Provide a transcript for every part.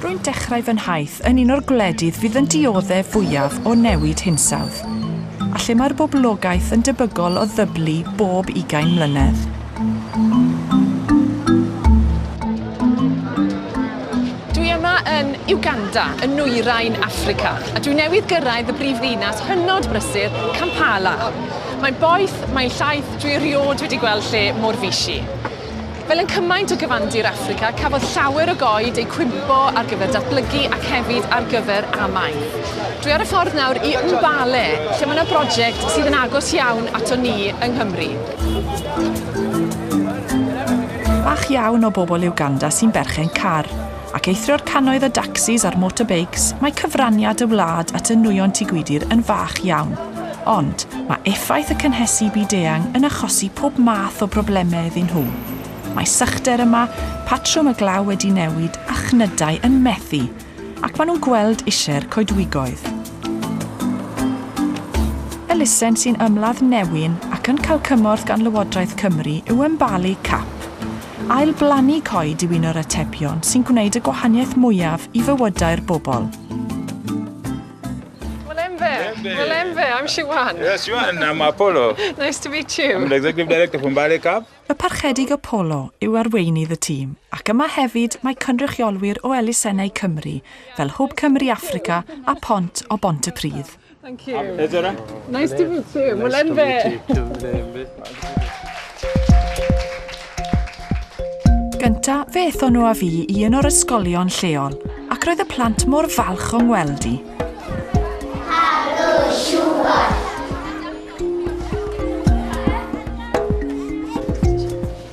Rwy'n dechrau fy nhaith yn un o'r gwledydd fydd yn dioddef fwyaf o newid hinsawdd, a lle mae'r boblogaeth yn debygol o ddyblu bob ugain mlynedd. Uganda, yn nwyrain Affrica, a dwi newydd gyrraedd y brif ddinas hynod brysur, Kampala. Mae'n boeth, mae'n llaeth, dwi erioed wedi gweld lle mor fisi. Fel yn cymaint o gyfandir Affrica, cafodd llawer o goed eu cwympo ar gyfer datblygu ac hefyd ar gyfer amaeth. Dwi ar y ffordd nawr i Mbale, lle mae yna broject sydd yn agos iawn ato ni yng Nghymru. Bach iawn o bobl yw Ganda sy'n berchen car. ac eithrio'r cannoedd o dacsis a'r motorbeics, mae cyfraniad y wlad at y nwyon Tŷ Gwydir yn fach iawn. Ond, mae effaith y cynhesu byd-eang yn achosi pob math o broblemau iddyn nhw. Mae sychder yma, patrwm y glaw wedi newid a chnydau yn methu. Ac maen nhw'n gweld isie'r coedwigoedd. Elusen sy'n ymladd newyn ac yn cael cymorth gan Lywodraeth Cymru yw Ymbalu Cap. Ail-blannu coed yw un o'r atebion sy'n gwneud y gwahaniaeth mwyaf i fywydau'r bobl. Mulembe. Mulembe, I'm Siwan. Yes, Siwan, I'm Apollo. nice to meet you. I'm the Executive Director from Bale Cup. Y Parchedig Apollo yw arweinydd y tîm, ac yma hefyd mae cynrychiolwyr o elusennau Cymru, fel Hwb Cymru Africa a Pont o Bont y Pridd. Thank you. Is there a... Nice to meet you. Nice to meet you too, David. Gynta, fe ethon nhw a fi i un o'r ysgolion lleol, ac roedd y plant mor falch o'n weld i.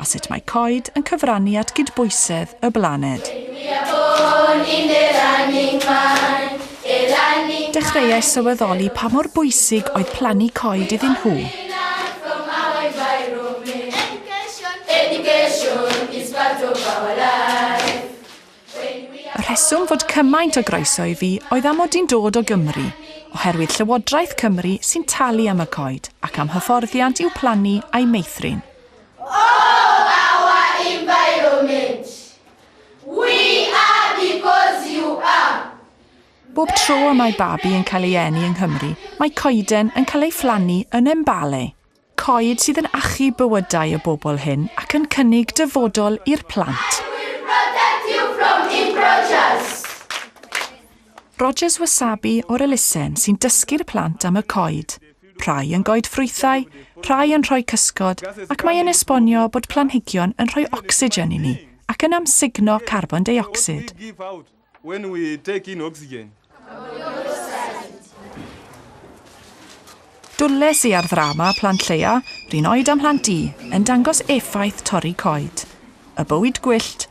a sut mae coed yn cyfrannu at gydbwysedd y blaned. Dechreuais sylweddoli pa mor bwysig oedd plannu coed iddyn nhw. Y rheswm fod cymaint o groeso i fi oedd am mod i'n dod o Gymru, oherwydd Llywodraeth Cymru sy'n talu am y coed ac am hyfforddiant i'w plannu a'i meithrin. Bob tro y mae babi yn cael ei eni yng Nghymru, mae coeden yn cael ei phlannu yn Embale, coed sydd yn achub bywydau y bobl hyn ac yn cynnig dyfodol i'r plant. Rogers Wasabi o'r elusen sy'n dysgu'r plant am y coed. Rhai yn goedffrwythau, rhai yn rhoi cysgod, ac mae yn esbonio bod planhigion yn rhoi ocsigen i ni ac yn amsugno carbon deuocsid. Dwles i ar ddrama Plant Lleia, Rhun Oed a Mhlant Du, yn dangos effaith torri coed. Y bywyd gwyllt,